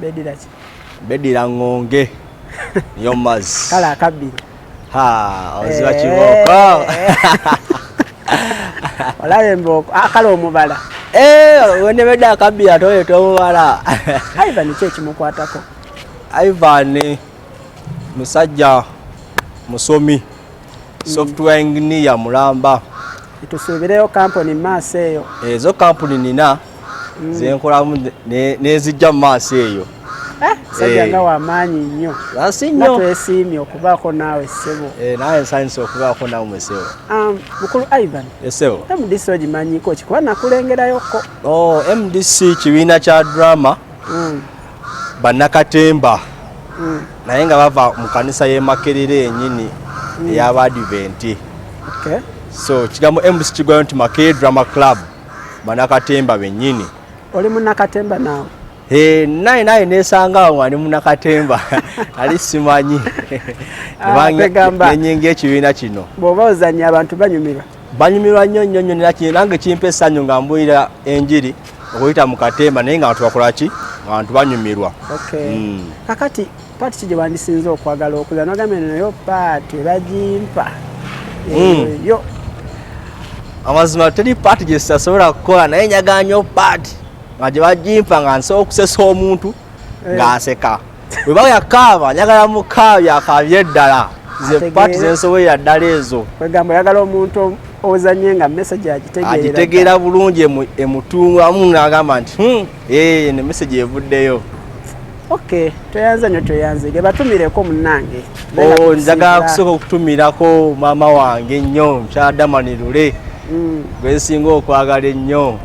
bedira ki bedira ngonge yo maz kala kabbi ha oziba eh. kiboko olabe mboko akala ah, omubala eh wene beda kabbi atoyo to omubala ivan kye kimukwatako ivan musajja musomi software engineer mulamba tusuubireyo kampuni maaso eyo ezo kampuni nina mm. zenkolamu nezijja mu maaso eyo eh, sajja eh. nga wamaanyi nnyo nsinyo twesiimye okubaako naawe ssebo eh, naye nsanyusa okubaako naawe mwesebo um, mukulu ivan esebo mdc ogimanyiko kikuba nakulengerayoko oh, mdc kibiina kya drama mm. bannakatemba mm. naye nga bava mu kanisa y'emakerera enyini mm. ey'abaadiventi okay. so kigambo mdc kigwayo nti makee drama club bannakatemba bennyini oli munnakatemba naawe eh, naye naye nesangawo nga ndi munnakatemba ali simanyi ah, nenyinga ekibiina kino bw'oba ozannya abantu banyumirwa banyumirwa nnyo nnyo nnyo naki nange kimpa essanyu nga mbuulira enjiri okuyita mu katemba naye nga bantu bakola ki abantu banyumirwa hmm. kakati paati ki gye bandisinza okwagala okuza nogambye nayo paati bagimpa hmm. yo amazima teri paati gye sitasobola kukola naye nyaganyo paati nga gye bagimpa nga nsobola okusesa omuntu eh. ng'aseka bwe baya kaaba njagala mu kaabi akaabye eddala ze paati zensobolera ddala ezo kwegamba oyagala omuntu ozanye nga message agitegeera bulungi emutungamu nagamba nti hmm, ee ne message evuddeyo ok tweyanze nyo tweyanze ge batumireko munange oh, njagala kusooka okutumirako maama wange nnyo mukyadamani lule mm. gwensinga okwagala ennyo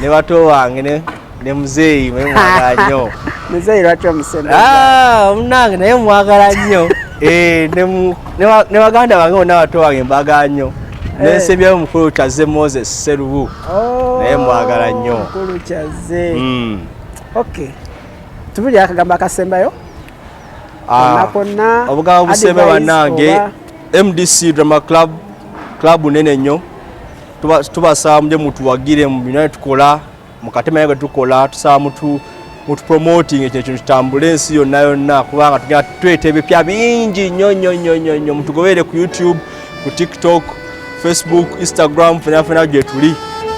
ne bato wange ne muzeeyi mwe mwagala nnyo muzeeyi lwaki omusembeza ah, munange naye mwagala nnyo eh, ne baganda bange bonna bato bange mbagala nnyo eh. nensembyayo omukulu kyaze moses serubu oh, naye mwagala nnyo mukulu kyaze hmm. ok tubuli akagambo akasembayo ah, konna obugambo busembe bannange mdc drama club club nene nnyo tubasaba muje mutuwagire mu binaye tukola mukatema naye tukola tusaba mutu mutupromoting ekyo ekintu kitambule ensi yonna yonna kubanga tugenda tuleeta ebipya bingi nnyo nnyo nnyo nnyo nnyo mutugoberere ku youtube ku tiktok facebook instagram fenafena gye tuli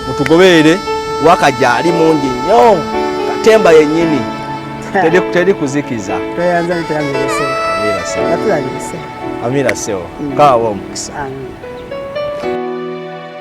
mutugoberere waka gyali mungi nnyo katemba yennyini teri kuzikiza amira sewo mm. kaawa omukisa